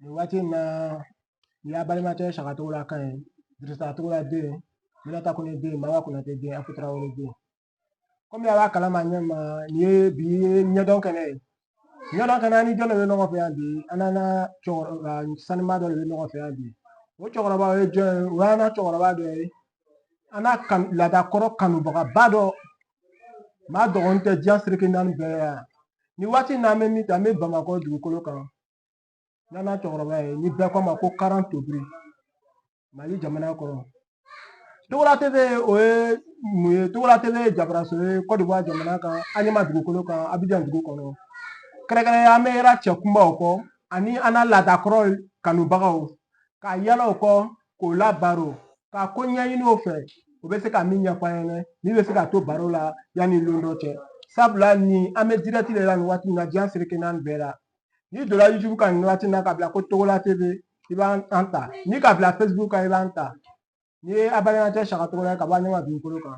nin waati in na nin y'a balimakɛ saka togola kan ye dirisa togola den minata kɔnɛ den mama konatɛ den afu tarawele den kɔmi a b'a kalama ɲɛ ma nin ye bi ɲɛdɔn kɛnɛ ye ɲɛdɔn kɛnɛ ni jɔn de bɛ ɲɔgɔn fɛ yan bi an n'an ka cɛkɔrɔba sanuma dɔ de bɛ ɲɔgɔn fɛ yan bi o cɛkɔrɔba o ye jɔn ye o y'an ka cɛkɔrɔba dɔ ye an na laadakɔrɔ kanubagaba dɔ maa dogonin tɛ diɲɛ seleke naani bɛɛ yan nin waati in na an bɛ min ta an bɛ bamakɔ dugukolo kan n'an cɛkɔrɔba ye ni bɛɛ k'a ma ko karan tobiri mali jamana kɔnɔ togola tv o ye mun ye togola tv ye jabaraso ye kɔdiwari jamana kan aɲama dugukolo kan abijan dugu kɔnɔ kɛrɛnkɛrɛnya an bɛ yala cɛ kunbaw kɔ ani an na laadakɔrɔ kanubagaw ka yala o kɔ k'o labaro ka ko ɲɛɲini o fɛ o bɛ se ka min ɲɛfɔ an ɲɛna min bɛ se ka to baro la yanni lon dɔ cɛ sabula ni an bɛ dirɛti de la nin waati in na diɲɛ seleke naani bɛɛ la n'i donna youtube kan nin waati na k'a bila ko togola tv i b'an ta n'i k'a bila facebook kan i b'an ta nin ye a balimakɛ saka togola ye ka bɔ aɲama dugukolo kan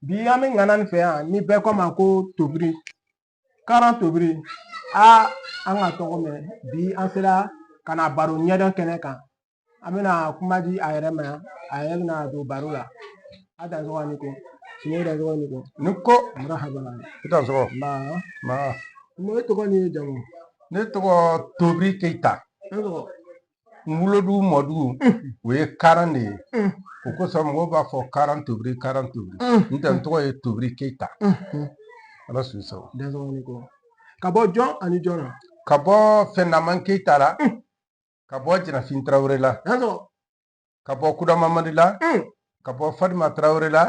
bi an bɛ ŋana nin fɛ yan ni bɛɛ k'a ma ko tobiri karan tobiri a an k'a tɔgɔ mɛn bi an sera ka na baro ɲɛdɔn kɛnɛ kan an bɛna kuma di a yɛrɛ ma yan a yɛrɛ bɛna don baro la a dansɔgɔ ni ko i dansɔgɔ ni ko ni ko marahaba i dansɔgɔ ma e tɔgɔ ni jamu ne tɔgɔ tobiri keyita n wolodugu mɔdugu o ye karan de ye o kosɔn mɔgɔw b'a fɔ karan tobiri karan tobiri n'o tɛ n tɔgɔ ye tobiri keyita ala su sago dansɔgɔ ni ko ka bɔ jɔn ani jɔn na ka bɔ fɛndaman keyita la ka bɔ jirafin tarawele la ka bɔ kuda mamadi la mm. ka bɔ fatima tarawele la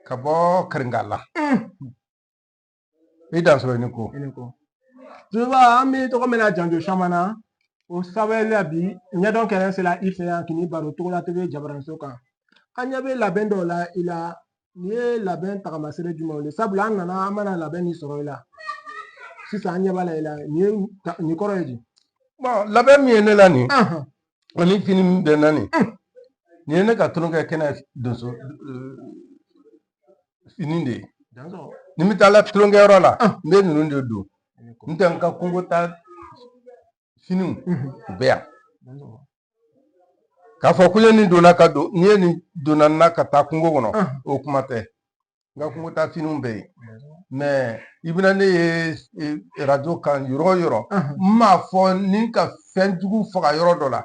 ka bɔ karinga la mm. i dansɔgɔ i ni ko tuba an b'i tɔgɔ mɛn na janjo caman na o sababu la bi ɲɛdɔn kɛnɛ sera i fɛ yan k'i baro togola tv jabaraso kan an ɲɛ bɛ labɛn dɔw la i la nin ye labɛn tagamasere jumɛnw ye sabula an nana an mana labɛn min sɔrɔ i la sisan an ɲɛ b'a la i la nin ye nin kɔrɔ ye di labɛn min ye ne la nin ani fini min bɛ n na nin nin ye ne ka tulonkɛ kɛnɛ donso fini de ye ni n bɛ taa la tulonkɛyɔrɔ la n bɛ ninnu de don n'o tɛ n ka kungo taa finiw u bɛ yan k'a fɔ ko n ye nin don n na ka don n'i ye nin don n na ka taa kungo kɔnɔ o kuma tɛ n ka kungo taa finiw bɛ yen mɛ i bɛna ne ye arajo kan yɔrɔ o yɔrɔ n m'a fɔ ni n ka fɛn jugu faga yɔrɔ dɔ la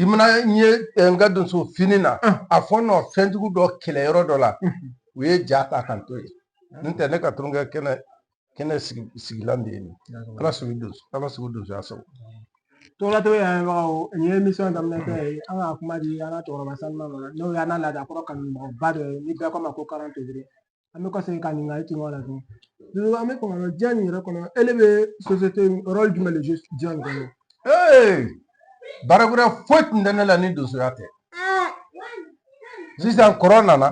i mana n ye n ka donso fini na a fɔ nɔ fɛn jugu dɔ kɛlɛ yɔrɔ dɔ la u ye ja ta ka n to yen n'o tɛ ne ka tulonkɛ kɛnɛ kɛnɛ sigi sigilan de ye nin ye. ala sago donso ala sago donsoya sago Togola TV lamɛnbagaw nin ye emisiyɔn daminɛtɔ ye an ka kuma di an ka cɛkɔrɔba sanuma ma n'o y'an ka laada kɔrɔ kanubagaba dɔ ye ni bɛɛ k'a ma ko karan tebere an bɛ kɔsegin ka ɲininkali kɛ ɲɔgɔn la tuguni an bɛ kɔnɔ diɲɛ nin yɛrɛ kɔnɔ ele bɛ sosiyete rɔli jumɛn de zuwe diɲɛ nin kɔnɔ ee baara wɛrɛ foyi tun tɛ ne la ni donsoya tɛ sisan kɔrɔ nana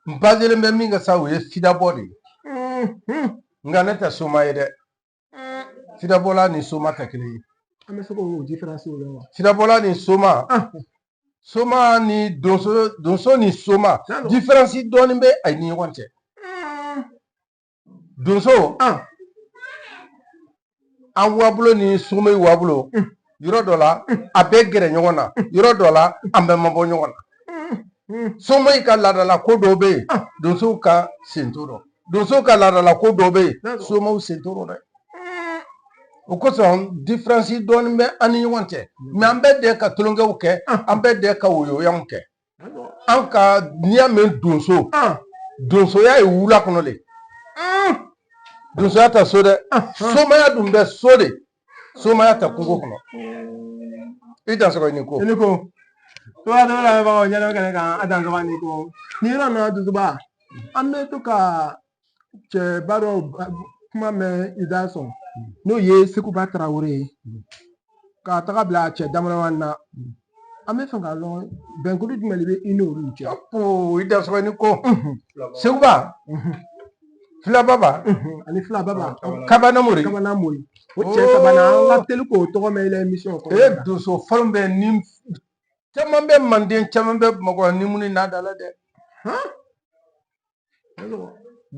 n bazelen bɛ min kan sa o ye fidabɔ de ye nka ne tɛ soma ye dɛ fidabɔla ni soma tɛ kelen ye an bɛ se k'o diferansi o la wa fidabɔla ni soma soma ni donso donso ni soma diferansi dɔɔnin bɛ a ni ɲɔgɔn cɛ donso an an wabolo ni soma wabolo yɔrɔ dɔ la a bɛ gɛrɛ ɲɔgɔn na yɔrɔ dɔ la an bɛ mabɔ ɲɔgɔn na soma ka laadala ko dɔw bɛ yen donsow ka sen t'o dɔ donsow ka laadala ko dɔw bɛ yen somaw sen t'o dɔ dɛ o kosɔn diferansi dɔɔnin bɛ an ni ɲɔgɔn cɛ mɛ an bɛɛ de ka tulonkɛw kɛ an bɛɛ de ka woyoyanw kɛ nka n'i y'a mɛn donso donsoya ye wula kɔnɔ de donsoya tɛ so dɛ somaya dun bɛ so de somaya tɛ kungo kɔnɔ i dansɔgɔ ni ko i ni ko Togola TV lamɛnbagaw ɲɛdɔn kɛnɛ kan a dansɔgɔ ni ko nin yɔrɔ in na dusuba an bɛ to ka cɛba dɔ kuma mɛn i da sɔn n'o ye seguba tarawele ye ka taga bila cɛ dama na an bɛ fɛ k'a dɔn bɛnkuru jumɛn de bɛ i n'olu cɛ o i dansɔgɔ ni ko seguba filababa ani filaba kabanamori kabanamori o cɛ sabanan an ka teli k'o tɔgɔ mɛn i la emisiyɔn kɔnɔ e donso fɔlɔ bɛ ni caman bɛ manden caman bɛ bamakɔ ni mun n'a da la dɛ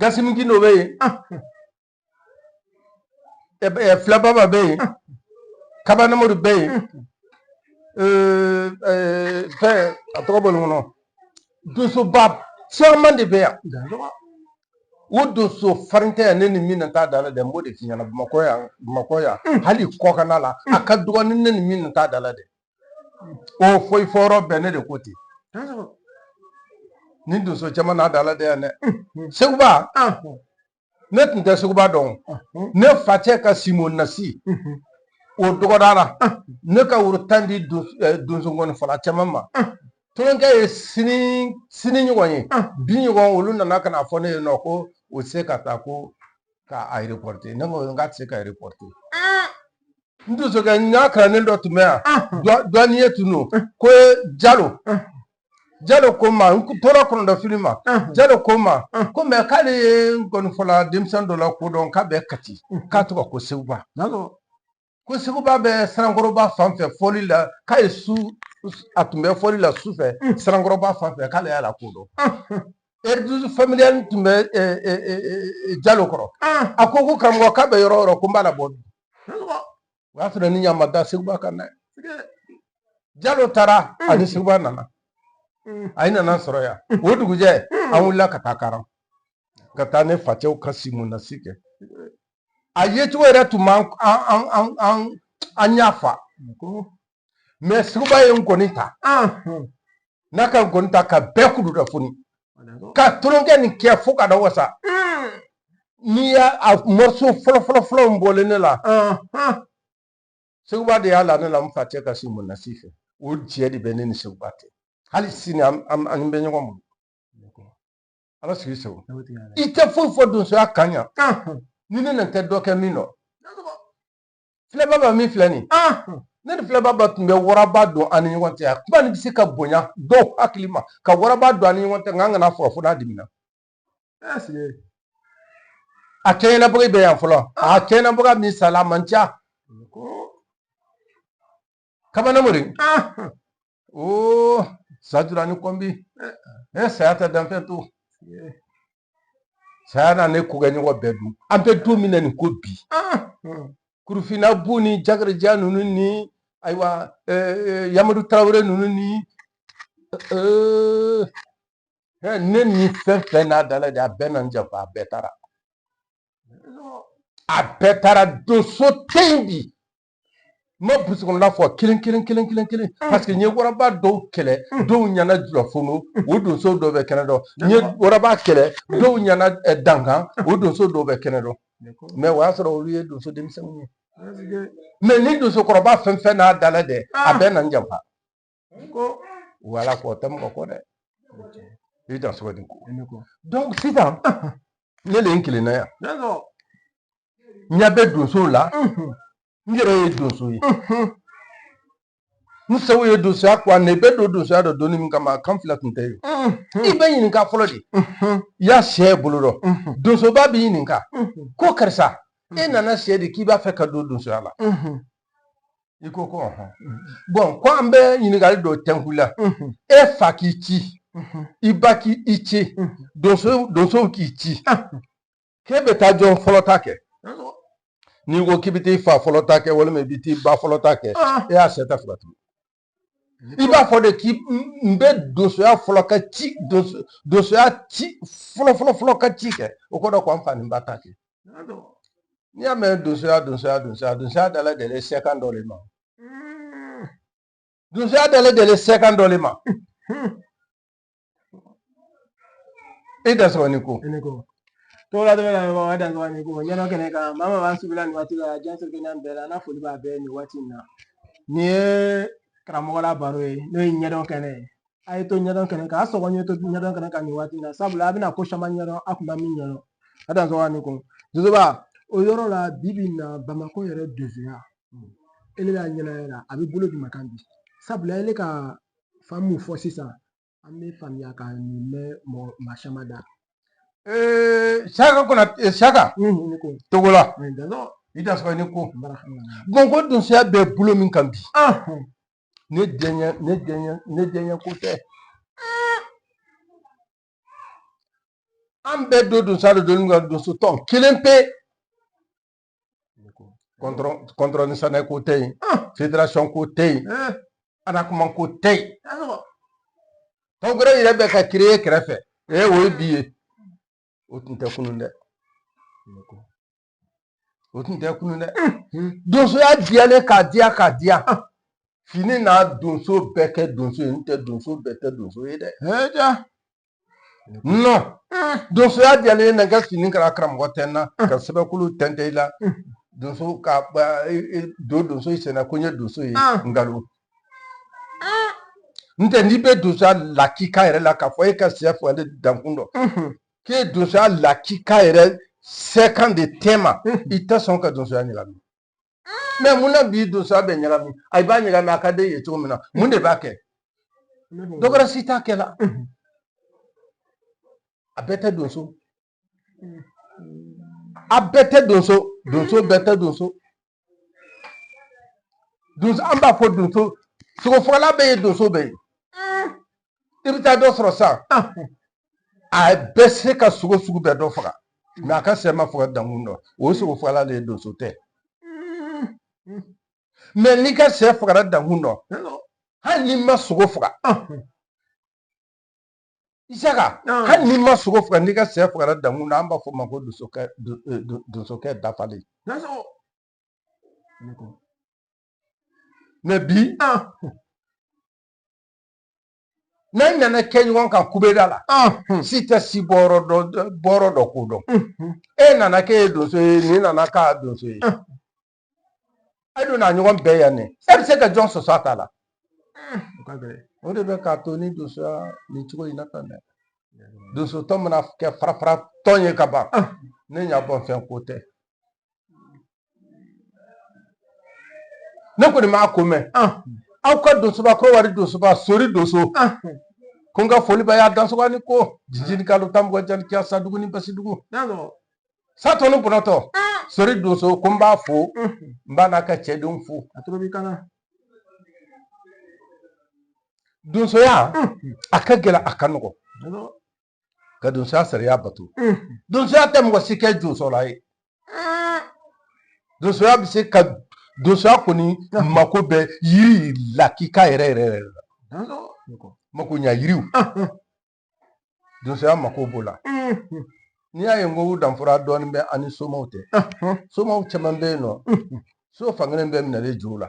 gasiminti dɔ bɛ yen filababa bɛ yen kabanamori bɛ yen fɛn a tɔgɔ bɔlen n kɔnɔ donsoba caman de bɛ yan o donso farin tɛ yan ne ni min na t'a da la dɛ n b'o de f'i ɲɛna bamakɔ yan bamakɔ yan hali kɔkanna la a ka dɔgɔ ni ne ni min na t'a da la dɛ o foyi fɔ yɔrɔ bɛɛ ne de ko ten ni donso caman n'a da la de yan dɛ seguba ne tun tɛ seguba dɔn ne facɛ ka sinbonasi o dɔgɔdara ne ka woro tan di donso ngɔni fɔla caman ma tolonkɛ ye sini sini ɲɔgɔn ye bi ɲɔgɔn olu nana ka na fɔ ne ye nɔ ko o se ka taa ko k'a reporte ne ko n k'a tɛ se ka reporte n donsokɛ n ka kalanden dɔ tun bɛ yan duwaniye tun don ko jalo jalo ko n ma n tora kɔnɔdɔfili ma jalo ko n ma ko mɛ k'ale ye ngɔnifɔla denmisɛn dɔ lakodɔn k'a bɛ kati k'a tɔgɔ ko seguba ko seguba bɛ sanankɔrɔba fan fɛ fɔli la k'a ye su a tun bɛ fɔli la su fɛ sanankɔrɔba fan fɛ k'ale y'a lakodɔn Eridusu familiyali tun bɛ e, e, e, e, jalo kɔrɔ Ah, a ko ko karamɔgɔ k'a bɛ yɔrɔ o yɔrɔ ko n b'a labɔ bi karamɔgɔ, o y'a sɔrɔ ne ɲa ma da seguba kan dɛ tigɛ. jalo taara Mm. ani seguba nana Mm. a nana sɔrɔ yan o dugujɛ Mm. an wulila ka taa karan ka taa ne facɛw ka simunasi kɛ a yecogo yɛrɛ tun m'an an- an- an- an- an ɲa fa Ko, mɛ seguba ye ngɔni ta n'a ka ngɔni ta ka bɛɛ kulu dɔ foni ka tolonkɛ nin kɛ fo ka da wasa n'i y'a a mɔriso fɔlɔfɔlɔfɔlɔ n bɔlen ne la seguba de y'a la ne la n facɛ ka simunasi fɛ o jɛ de bɛ ne ni seguba tɛ hali sini an bɛ ɲɔgɔn bolo ala sigi segu i tɛ foyi fɔ donsoya kan yan ni ne nan tɛ dɔ kɛ min dɔ filababa min filɛ nin ne ni filababa tun bɛ waraba don an ni ɲɔgɔn cɛ a kuma nin bɛ se ka bonya dɔw hakili ma ka waraba don an ni ɲɔgɔn cɛ nka an kana fɔ fo n'a dimina a kɛɲɛnabaga bɛ yan fɔlɔ a kɛɲɛnabaga min sala a man ca kabana mori o sajura ni kɔnbi ne saya tɛ danfɛn to saya na ne kokɛɲɔgɔn bɛɛ dun an bɛ don min na nin ko bi kurufina bu ni jakarija ninnu ni ayiwa yamadu tarawele ninnu ni ne ni fɛn fɛn n'a dala de a bɛɛ na n janfa a bɛɛ taara a bɛɛ taara donso tɛ yen bi n ma burusi kɔnɔna fɔ kelen kelen kelen kelen kelen paseke n ye waraba dɔw kɛlɛ dɔw ɲɛna julafono o donso dɔw bɛ kɛnɛ dɔ n ye waraba kɛlɛ dɔw ɲɛna eh, dankan o donso dɔw bɛ kɛnɛ dɔ mɛ o y'a sɔrɔ olu ye donso denmisɛnninw ye mɛ ni donsokɔrɔba fɛn fɛn n'a dala dɛ a bɛɛ na n janfa ko wala ko tɛ mɔgɔ ko dɛ i dan sogo di ko sisan ne le ye n kelenna yan n ɲɛ bɛ donso la n yɛrɛ ye donso ye n sew ye donsoya kuwa ne bɛ don donsoya dɔ donni min kama kan fila tun tɛ yen i bɛ ɲininka fɔlɔ de i y'a sɛ bolo dɔ donsoba b'i ɲininka ko karisa e nana sɛ di k'i b'a fɛ ka don donsoya la i ko ko ɔhɔn bɔn ko an bɛ ɲininkali dɔ tɛ n kun la e fa k'i ci i ba k'i i ci donso donsow k'i ci k'e bɛ taa jɔn fɔlɔ ta kɛ n'i ko k'i bɛ t'i fa fɔlɔ ta kɛ walima i bɛ t'i ba fɔlɔ ta kɛ e y'a syɛ ta fila tugu i b'a fɔ de k'i n bɛ donsoya fɔlɔ ka ci donsoya ci fɔlɔ fɔlɔ fɔlɔ ka ci kɛ o kɔrɔ ko an fa ni ba ta kɛ n'i y'a mɛn donsoya donsoya donsoya donsoya dala deli syɛ kan dɔ le ma donsoya dala deli syɛ kan dɔ le ma e dansɔgɔ ni ko ne ko togola dɔrɔn la wa dansɔgɔ ni ko ɲɛdɔn kɛnɛ kan maa maa b'an suwivi la nin waati la diɲɛ seleke naani bɛɛ la n'a foli b'a bɛɛ nin waati in na nin ye karamɔgɔ la baro ye n'o ye ɲɛdɔn kɛnɛ ye a ye to ɲɛdɔn kɛnɛ kan a sɔgɔ ɲɛ to ɲɛdɔn kɛnɛ kan nin waati in na sabula a bɛna ko caman ɲɛdɔn a kun tɛ min ɲɛdɔn a dansɔgɔ ni ko donsoba o yɔrɔ la bi bi in na bamakɔ yɛrɛ donsoya ele b'a ɲɛnaya la a bɛ bolo jumɛn kan bi sabula ele ka faamu fɔ sisan an bɛ faamuyakan nin mɛn maa caman da saka kɔnɔ saka togola i dansɔgɔ ni ko bɔn ko donsoya bɛ bolo min kan bi ne ne diyanye ko tɛ an bɛɛ don donsoya de don ka donso tɔn kelen pe kɔntɔrɔn saanɛ ko tɛ yen federasɔn ko tɛ yen anakoma ko tɛ yen tɔn wɛrɛ yɛrɛ bɛ ka kereye kɛrɛfɛ ee o ye bi ye o tun tɛ kunun dɛ o tun tɛ kunun dɛ donsoya diyalen k'a diya k'a diya fini n'a donso bɛɛ kɛ donso ye n'o tɛ donso bɛɛ tɛ donso ye dɛ nɔn donsoya diyalen ye na ka fini kala karamɔgɔ tɛ n na ka sɛbɛnkulu tɛntɛ i la donso ka don donso senna ko n ye donso ye nkalon n'o tɛ n'i bɛ donsoya lakika yɛrɛ la k'a fɔ e ka syɛ faga dankun dɔ k'e ye donsoya lakika yɛrɛ syɛ kan de tɛ ma i tɛ sɔn ka donsoya ɲagami mɛ mun na bi donsoya bɛ ɲagami a b'a ɲagami a ka d'e ye cogo min na mun de b'a kɛ dɔ wɛrɛ si t'a kɛ la a bɛɛ tɛ donso a bɛɛ tɛ donso donso bɛɛ tɛ donso donso an b'a fɔ donso sogofagala bɛɛ ye donso bɛɛ ye i bɛ taa dɔ sɔrɔ sisan a bɛ se ka sogo sugu bɛɛ dɔ faga mɛ a ka sɛ ma faga dankun dɔ o ye sogo fagala de ye donso tɛ mɛ n'i ka sɛ fagara dankun dɔ hali n'i ma sogo faga isaka hali n'i ma sogo faga n'i ka sɛ fagara dankun na an b'a fɔ o ma ko donsokɛ do- eh, do- donsokɛ dafalen mɛ bi n'an nana kɛ ɲɔgɔn kan kubeda la si tɛ si bɔyɔrɔ dɔn k'o dɔn e nana k'e ye donso ye nin nana k'a donso ye a donna ɲɔgɔn bɛɛ yan ne e bɛ se ka jɔn sɔsɔ a ta la o de bɛ k'a to ni donsoya nin cogo in na tan dɛ donsotɔn mana kɛ fara fara tɔn ye ka ban ne ɲa bɔ fɛn ko tɛ ne kɔni m'a ko mɛn aw ka donsoba kɔdiwari donsoba sori donso ko n ka foli b'a y'a dansogo a ni ko jijini kalo tan mɔgɔ jani kiya sadugu ni basidugu satɔ ni bɔnɔtɔ sori donso ko n b'a fo n b'a n'a ka cɛdenw fo donsoya a ka gɛlɛn a ka nɔgɔ ka donsoya sariya bato donsoya tɛ mɔgɔ si kɛ josɔnna ye donsoya bɛ se ka donsoya kɔni mako bɛ yiri lakika yɛrɛ yɛrɛ yɛrɛ la makoɲa yiriw donsoya mako b'o la n'i y'a ye n ko danfara dɔɔnin bɛ a ni somaw tɛ somaw caman bɛ yen n'o so fankelen bɛ minɛlen jo la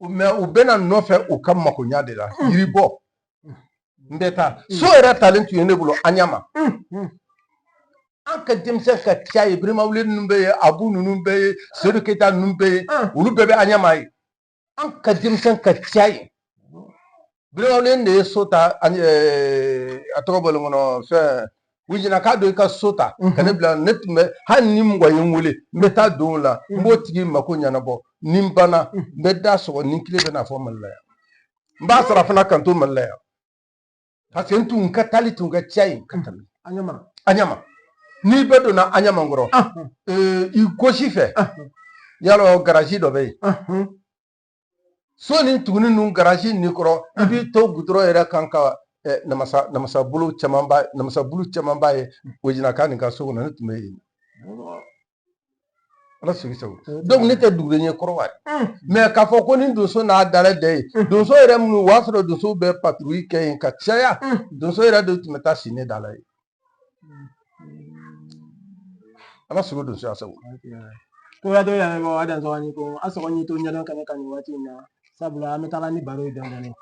mɛ u bɛ na n nɔfɛ u ka makoɲa de la hmm. yiri bɔ hmm. n bɛ taa hmm. so yɛrɛ talen tun ye ne bolo aɲama an ka denmisɛn ka ca yen birimawule ninnu bɛ yen abu ninnu bɛ yen sedu keyita ninnu bɛ yen olu bɛɛ bɛ aɲama yen an ka denmisɛn ka ca yen birimawule de ye so ta ani a tɔgɔ bɔlen n kɔnɔ fɛn wojinaka don i ka so ta ka ne bila ne tun bɛ hali ni mɔgɔ ye n wele n bɛ taa don o la n b'o tigi mako ɲɛnabɔ ni n banna n bɛ da sɔgɔ ni kile bɛ na fo mali la yan n b'a sara fana ka n to mali la yan parce que n tun ka taali tun ka ca yen ka tɛmɛ aɲama aɲama n'i bɛ donna aɲama kɔrɔ i gosi fɛ yalɔ garaji dɔ bɛ yen so ni tuguni ninnu garaji nin kɔrɔ i b'i to gudɔrɔn yɛrɛ kan ka eh, namasa namasabolo camanba namasabulu camanba ye wojinaka nin ka so kɔnɔ ne tun bɛ yen ala sigi sago donc ne tɛ dugulen ye kɔdiwari mɛ k'a fɔ ko ni donso n'a dala dɛ ye donso yɛrɛ minnu o y'a sɔrɔ donso bɛ patrouille kɛ yen ka caya donso yɛrɛ de tun bɛ taa si ne dala ye ala sago donsoya sago ko ya dɔ yɛrɛ bɔ a dansɔgɔ ni ko a sɔgɔ ni to ɲɛdɔn kɛnɛ kan nin waati in na sabula an bɛ taga ni baro ye dɔɔnin dɔɔnin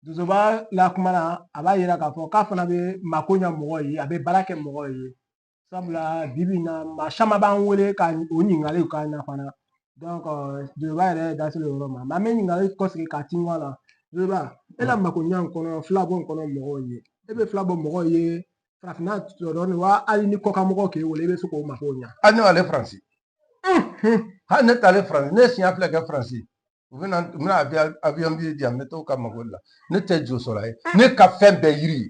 dusuba la kuma na a b'a yira k'a fɔ k'a fana bɛ mako ɲɛ mɔgɔ ye a bɛ baara kɛ mɔgɔ ye sabula bibi in na maa caman b'an wele ka o ɲininkaliw k'an na fana dusuba yɛrɛ da selen o yɔrɔ ma an bɛ ɲininkali kɔsegin ka tin wa la dusuba e la makoɲa in kɔnɔ filabɔ in kɔnɔ mɔgɔw ye e bɛ filabɔ mɔgɔw ye farafinna dɔrɔn wa hali ni kɔkanmɔgɔ k'e wele i bɛ se k'o makow ɲa hali ne b'ale faransi hali ne t'ale faransi ne siɲɛ fila kɛ faransi u bɛna u bɛna avion biye di yan n bɛ t'o ka mako la ne tɛ jo sɔrɔ a ye ne ka fɛn bɛɛ yiri ye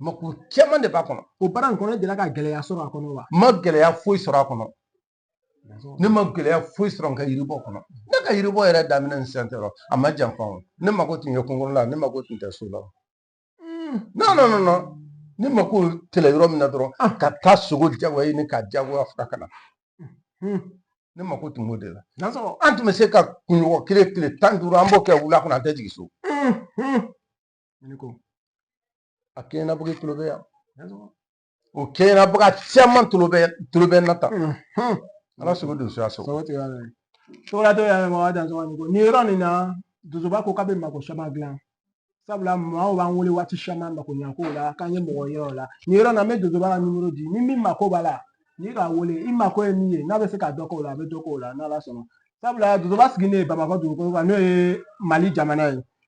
mako caman de b'a kɔnɔ o baara in kɔnɔ e delila ka gɛlɛya sɔrɔ a kɔnɔ wa n ma gɛlɛya foyi sɔrɔ a kɔnɔ ne ma gɛlɛya foyi sɔrɔ n ka yiribɔ kɔnɔ ne ka yiribɔ yɛrɛ daminɛ ni sisan cɛ a ma janfa o ne mako tun ye kungo la ne mako tun tɛ so la non non non non ne mako tɛlɛ yɔrɔ min na dɔrɔn ka taa sogo jagoya ɲini ka jagoya fura ka na ne mako tun b'o de la an tun bɛ se ka kunɲɔgɔn kelen tile tan ni duuru an b'o kɛ wula kɔnɔ an tɛ jigin so ne ko a kɛɲɛna bɔ tulo bɛ yan o kɛɲɛna bɔ caman tulo bɛ tulo bɛ na ta ala sago donsoya sago sogo tigɛ cogola dɔw y'a mɔgɔ dansɔgɔ ko nin yɔrɔ nin na dusuba ko k'a bɛ mako caman dilan sabula maaw b'an wele waati caman makoɲa ko la k'an ye mɔgɔ yir'u la nin yɔrɔ na n bɛ dusuba ka nimoro di ni min mako b'a la n'i k'a wele i mako ye min ye n'a bɛ se ka dɔ k'o la a bɛ dɔ k'o la n'ala sɔnna sabula dusuba sigilen bamakɔ dugukolo kan n'o ye mali jamana ye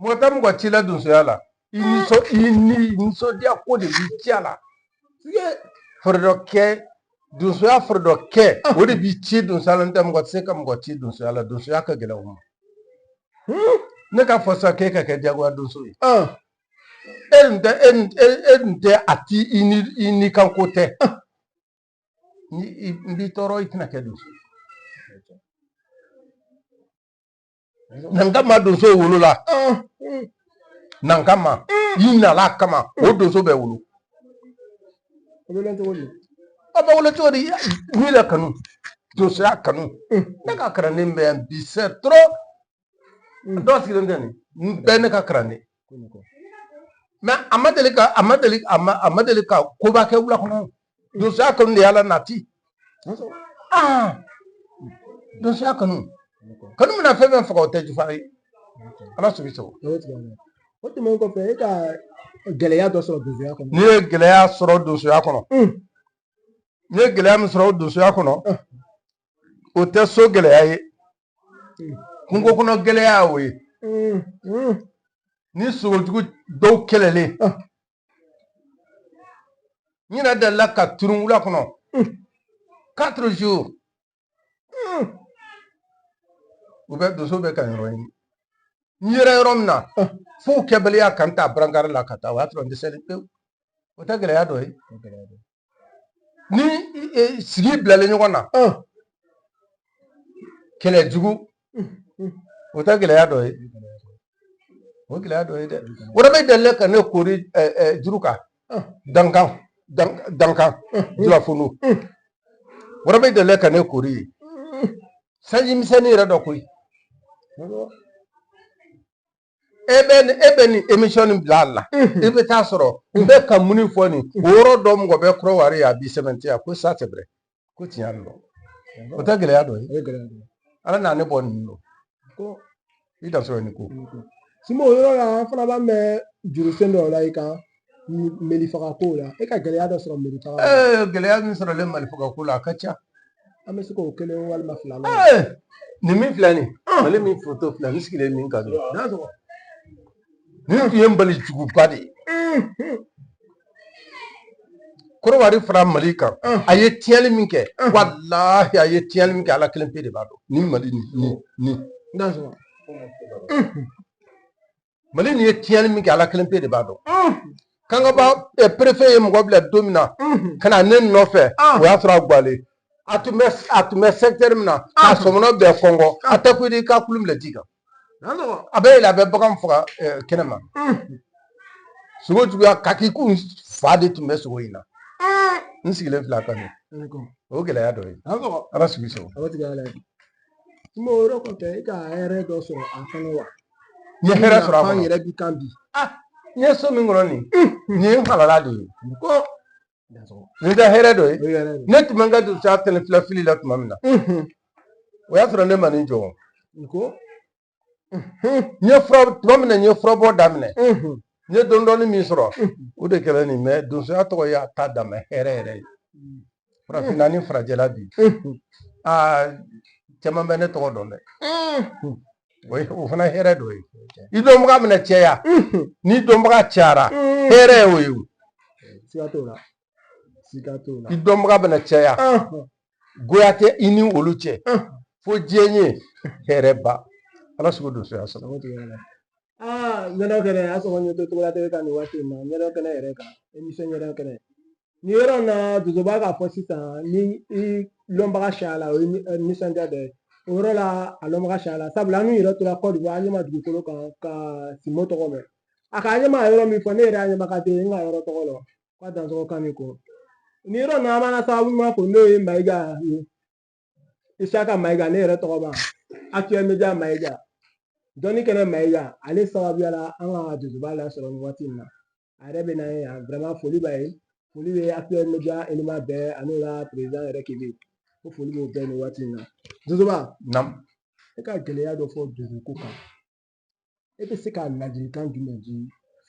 mɔgɔ tɛ mɔgɔ ci la donsoya la i nisɔ i ni nisɔndiya ko de b'i ci a la i ye foro dɔ kɛ donsoya foro dɔ kɛ o de b'i ci donsoya la n tɛ mɔgɔ tɛ se ka mɔgɔ ci donsoya la donsoya ka gɛlɛn o ma ne ka fɔ sa k'e ka kɛ jagoya donso ye e nin tɛ e nin e e nin tɛ a ti i ni i ni kan ko tɛ ni i n b'i tɔɔrɔ i tɛna kɛ donso ye nankama donso wolola nankama i nana a kama o donso bɛ wolo a bɛ wolo cogo di a bɛ wolo cogo di n'i la kanu donsoya kanu ne ka kalanden bɛ yan bi c'est trop dɔw sigilen tɛ nin bɛɛ ne ka kalanden mais a ma deli ka a ma deli a ma a ma deli ka koba kɛ wula kɔnɔ donsoya kanu de y'a la nati ah donsoya kanu kanu bɛna fɛn fɛn faga o tɛ jufa ye ala sago i sago o tɛmɛnen kɔfɛ e ka gɛlɛya dɔ sɔrɔ donsoya kɔnɔ n'i ye gɛlɛya sɔrɔ donsoya kɔnɔ n'i ye gɛlɛya min sɔrɔ donsoya kɔnɔ o tɛ so gɛlɛya ye kungo kɔnɔ gɛlɛya o ye ni sogojugu dɔw kɛlɛlen n yɛrɛ delila ka turun wula kɔnɔ quatre jours u bɛ donso bɛ ka n yɔrɔ ɲini n yera yɔrɔ min na fo kɛbaliya ka n ta barankari la ka taa o y'a sɔrɔ n dɛsɛlen pewu o tɛ gɛlɛya dɔ ye ni sigi bilalen ɲɔgɔn na kɛlɛ jugu o tɛ gɛlɛya dɔ ye o gɛlɛya dɔ ye dɛ waraba delila ka ne kori jiri kan dankan dankan jurafolo waraba delila ka ne kori yen sanji misɛnnin yɛrɛ dɔ koyi e bɛ nin e bɛ nin émission nin bila a la i bɛ t'a sɔrɔ n bɛ ka min fɔ nin o yɔrɔ dɔ mɔgɔ bɛ korowari yen a b'i sɛmɛntiya ko ça c'est vrai ko tiɲɛ yɛrɛ don o tɛ gɛlɛya dɔ ye ala n'a ne bɔ nin don ko i da sɔrɔ nin ko simbo o yɔrɔ la an fana b'an bɛ juru sen dɔ la i kan meli faga ko la e ka gɛlɛya dɔ sɔrɔ meli faga ee gɛlɛya min sɔrɔlen mali faga ko la a ka ca an bɛ se k'o kelen walima fila la ee nin min filɛ nin mali min foto filɛ n sigilen min kan n'a sɔrɔ nin tun ye mali juguba de ye korowari fara mali kan a ye tiɲɛni min kɛ walahi a ye tiɲɛni min kɛ ala kelen pe de b'a dɔn ni mali ni ni n'a sɔrɔ mali nin ye tiɲɛni min kɛ ala kelen pe de b'a dɔn kangaba préfet ye mɔgɔ bila don min na ka na ne nɔfɛ o y'a sɔrɔ a gwalen a tun bɛ a tun bɛ secteur min na ka sɔmɔnɔ bɛɛ kɔngɔ a tɛ ko i ka kurun bila ji kan a bɛ yɛlɛ a bɛ bagan faga kɛnɛ ma sogo juguya ka k'i kun fa de tun bɛ sogo in na n sigilen filɛ a kan o gɛlɛya dɔ ye ala sigi sɔrɔ kuma o yɔrɔ kɔfɛ e ka hɛrɛ dɔ sɔrɔ a kɔnɔ wa n ye hɛrɛ sɔrɔ a kɔnɔ yɛrɛ bi kan bi n ye so min kɔnɔ nin nin ye n halala de ye ko nin tɛ hɛrɛ dɔ ye ne tun bɛ n ka donsoya tɛnɛ filafili la tuma min na o y'a sɔrɔ ne ma nin jɔ ko n ye fura tuma min na n ye furabɔ daminɛ n ye dɔɔni dɔɔni min sɔrɔ o de kɛra nin ye donsoya tɔgɔ y'a ta dama hɛrɛ yɛrɛ ye farafinna ni farajɛla bi aa caman bɛ ne tɔgɔ dɔn dɛ o ye o fana hɛrɛ dɔ ye i dɔnbaga mana caya n'i dɔnbaga cayara hɛrɛ ye o ye o siga t'o la i dɔnbaga bɛna caya goya tɛ i ni olu cɛ fo diɲɛ ye hɛrɛ ba ala sago donsoya sago aa ɲɛnɛ kɛnɛ a sɔrɔ ɲɛ to la ka nin waati in na ɲɛnɛ kɛnɛ yɛrɛ kan emisɔn ɲɛnɛ kɛnɛ nin yɔrɔ in na donsoba k'a fɔ sisan ni i lɔnbaga cayala o ye nisɔndiya dɔ ye o yɔrɔ la a lɔnbaga cayala sabula an n'u yɛrɛ tora kɔdiwari an ɲɛ ma dugukolo kan ka simo tɔgɔ mɛn a ka ɲɛma yɔrɔ min fɔ ne yɛrɛ y'a ɲɛma ka den n ka yɔrɔ tɔgɔ la quoi dansɔgɔ kan de kɔrɔ nin yɔrɔ nin na an b'an sababu ɲuman fo n'o ye mayiga ye isaka mayiga ne yɛrɛ tɔgɔma actuel media mayiga dɔnni kɛnɛ mayiga ale sababuya la an ka donsoba lasɔrɔ nin waati in na a yɛrɛ bɛ na ye yan vraiment foli b'a ye foli bɛ actuel media élément bɛɛ ani ka président yɛrɛ kebe ko foli b'o bɛɛ nin waati in na donsoba e ka gɛlɛya dɔ fɔ donsoko kan e bɛ se ka ladilikan jumɛn di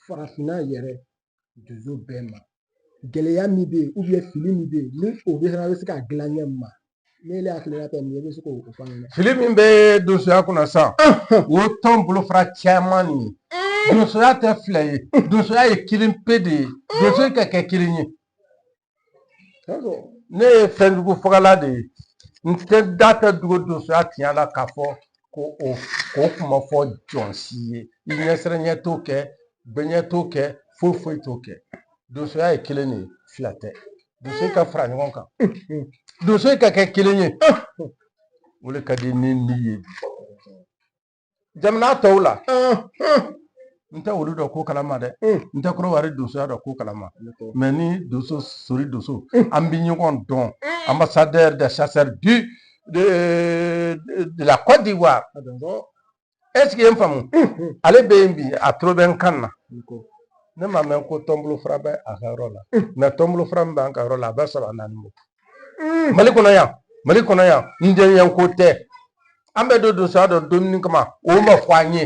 farafinna yɛrɛ donso bɛɛ ma gɛlɛya min bɛ yen fili min bɛ yen ni o bɛ fana bɛ se ka dilan ɲɛ ma ne yɛrɛ hakilina tɛ nin ye i bɛ se k'o fɔ an ɲɛna fili min bɛ donsoya kunna sisan o tɔn bolofara caman nin ye donsoya tɛ fila ye donsoya ye kelen pe de ye donso ka kɛ kelen ye ne ye fɛn jugu fagala de ye n tɛ da datugu donsoya tiɲɛ la k'a fɔ ko o ko kuma fɔ jɔn si ye i ɲɛsiranɲɛ t'o kɛ gbɛɲɛ t'o kɛ foyi foyi t'o kɛ donsoya ye kelen de ye fila tɛ donso ka fara ɲɔgɔn kan donso ka kɛ kelen ye o de ka di ne ye jamana tɔw la n tɛ olu dɔ ko kalama dɛ n tɛ kɔdiwari donsoya dɔ ko kalama mɛ ni donso sori donso an bɛ ɲɔgɔn dɔn ambassadeur des chasseurs du de, de la Côte d'Ivoire est-ce que i ye n faamu ale bɛ yen bi a tulo bɛ n kan na ne ma mɛn ko tɔn bolofara bɛ a ka yɔrɔ la mɛ tɔn bolofara min b'an ka yɔrɔ la a bɛ saba naani bɔ mm. mali kɔnɔ yan mali kɔnɔ yan n jɛɲɛ ko tɛ an bɛ don donsoya dɔ dumuni kama o ma fɔ an ye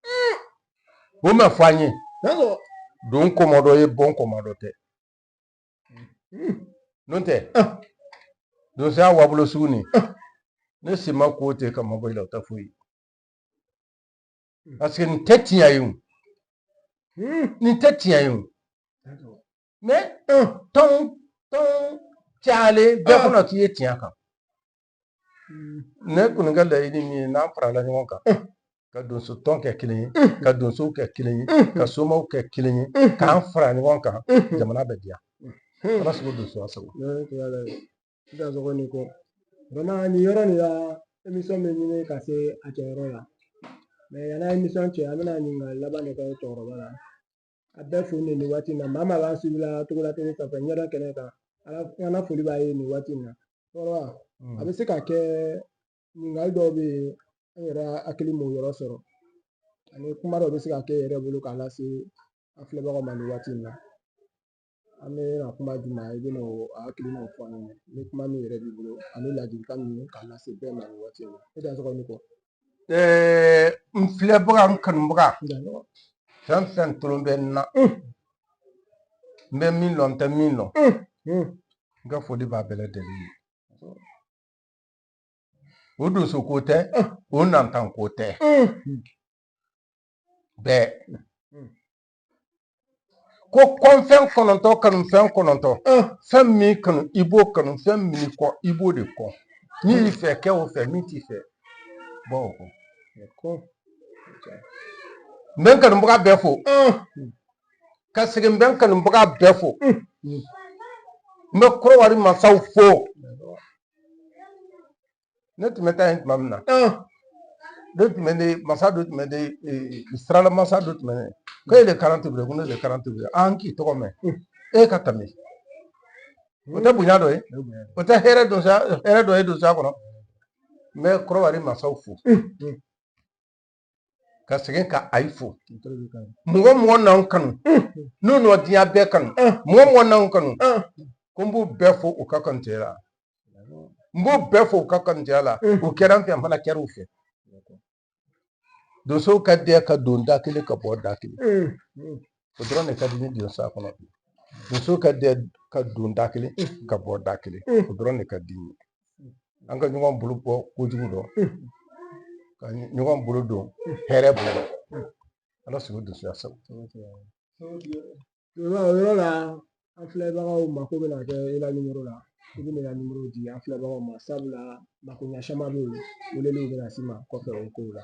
mm. o ma fɔ an ye don kɔmɔ dɔ ye bɔ kɔmɔ dɔ tɛ mm. n'o tɛ ah. donsoya wabolo sugu nin ah. ne si ma ko tɛ ka mabɔ i la o tɛ foyi parce que nin tɛ tiɲɛ ye o nin tɛ tiɲɛ ye o mɛ tɔn tɔn cayalen bɛɛ kɔnɔ k'i ye tiɲɛ kan ne kɔni ka laɲini min ye n'an farala ɲɔgɔn kan ka donso tɔn kɛ kelen ye ka donsow kɛ kelen ye ka somaw kɛ kelen ye k'an fara ɲɔgɔn kan jamana bɛ diya ala sago donso sago dansɔgɔ ni kɔ bana nin yɔrɔ nin la emisɔn bɛ ɲini ka se a kɛyɔrɔ la mɛ yanni an ye emisɔn cɛ an bɛna ɲininkali laban de kɛ cɛkɔrɔba la a bɛɛ fo nin nin waati in na maa maa b'an suivi la togola tele sanfɛ ɲɛda kɛnɛ kan an na foli b'a ye nin waati in na cɛkɔrɔba a bɛ se ka kɛ ɲininkali dɔw bɛ yen an yɛrɛ hakili m'o yɔrɔ sɔrɔ ani kuma dɔw bɛ se ka kɛ yɛrɛ bolo k'a lase an filɛbagaw ma nin waati in na an bɛ na kuma di ma i bɛna o hakilinaw fɔ an ɲɛna ni kuma min yɛrɛ b'i bolo ani ladilikan ninnu k'a lase bɛɛ ma nin waati in na e dansɔgɔ ni kɔ n filɛbaga n kanubaga fɛn fɛn tolo bɛ n na n bɛ min lɔn n tɛ min lɔn n ka foli b'a bɛɛ lajɛlen ye o donso ko tɛ o nantan ko tɛ bɛɛ ko kɔnfɛn kɔnɔntɔn kanu fɛn kɔnɔntɔn fɛn min kanu i b'o kanu fɛn min kɔn i b'o de kɔn min y'i fɛ kɛ o fɛ min t'i fɛ bɔ o kɔ n bɛ n kanubaga bɛɛ fo ka segin n bɛ n kanubaga bɛɛ fo n bɛ kɔdiwari masaw fo ne tun bɛ taa yen tuma min na dɔ tun bɛ ne masa dɔ tun bɛ ne sirala masa dɔ tun bɛ ne ko e de karan tebiri ko ne de karan tebiri an k'i tɔgɔ mɛn e ka tɛmɛ o tɛ bonya dɔ ye o tɛ hɛrɛ dɔ ye donsoya kɔnɔ n bɛ kɔdiwari masaw fo ka segin ka ayi fo mɔgɔ mɔgɔ n'an kanu n'u nɔ diɲɛ bɛɛ kanu mɔgɔ mɔgɔ n'an kanu ko n b'u bɛɛ fo u ka kanutɛya la n b'u bɛɛ fo u ka kanutɛya la u kɛra n fɛ n fana kɛra u fɛ donsow ka dɛɛ ka don da kelen ka bɔ da kelen o dɔrɔn de ka di n ye donsoya kɔnɔ donsow ka dɛ ka don da kelen ka bɔ da kelen o dɔrɔn de ka di n ye an ka ɲɔgɔn bolo bɔ kojugu dɔ ka ɲɔgɔn bolo don hɛrɛ dɔ ala sago donsoya sago o yɔrɔ la an filɛbagaw mako bɛna kɛ i la nimoro la i bɛ na nimoro di an filɛbagaw ma sabula makoɲɛ caman bɛ yen weleliw bɛ na s'i ma kɔfɛ o kow la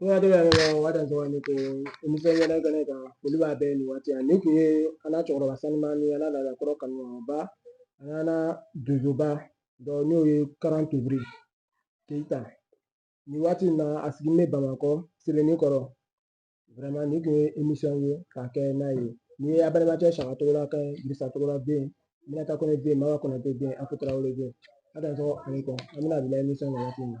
N ka dɔgɔ yɛrɛ la waati dɔrɔn ne ko émission ɲɛna ka ne kan olu b'a bɛɛ nin waati ni kun ye an na cɛkɔrɔba sanuma ni an na ladakɔrɔ kanuba an na donsoba dɔ n'o ye karan tebiri keyita nin waati in na a sigilen bɛ bamakɔ sebeninkɔrɔ vraiment ni kun ye émission ye k'a kɛ n'a ye n'i ye a balimakɛ saka togola ka dirisa togola den minata kɔnɛ den mawa kɔnɛ den afu tarawele den a dansɔgɔ a ni kɔ an bɛna bila émission na waati min na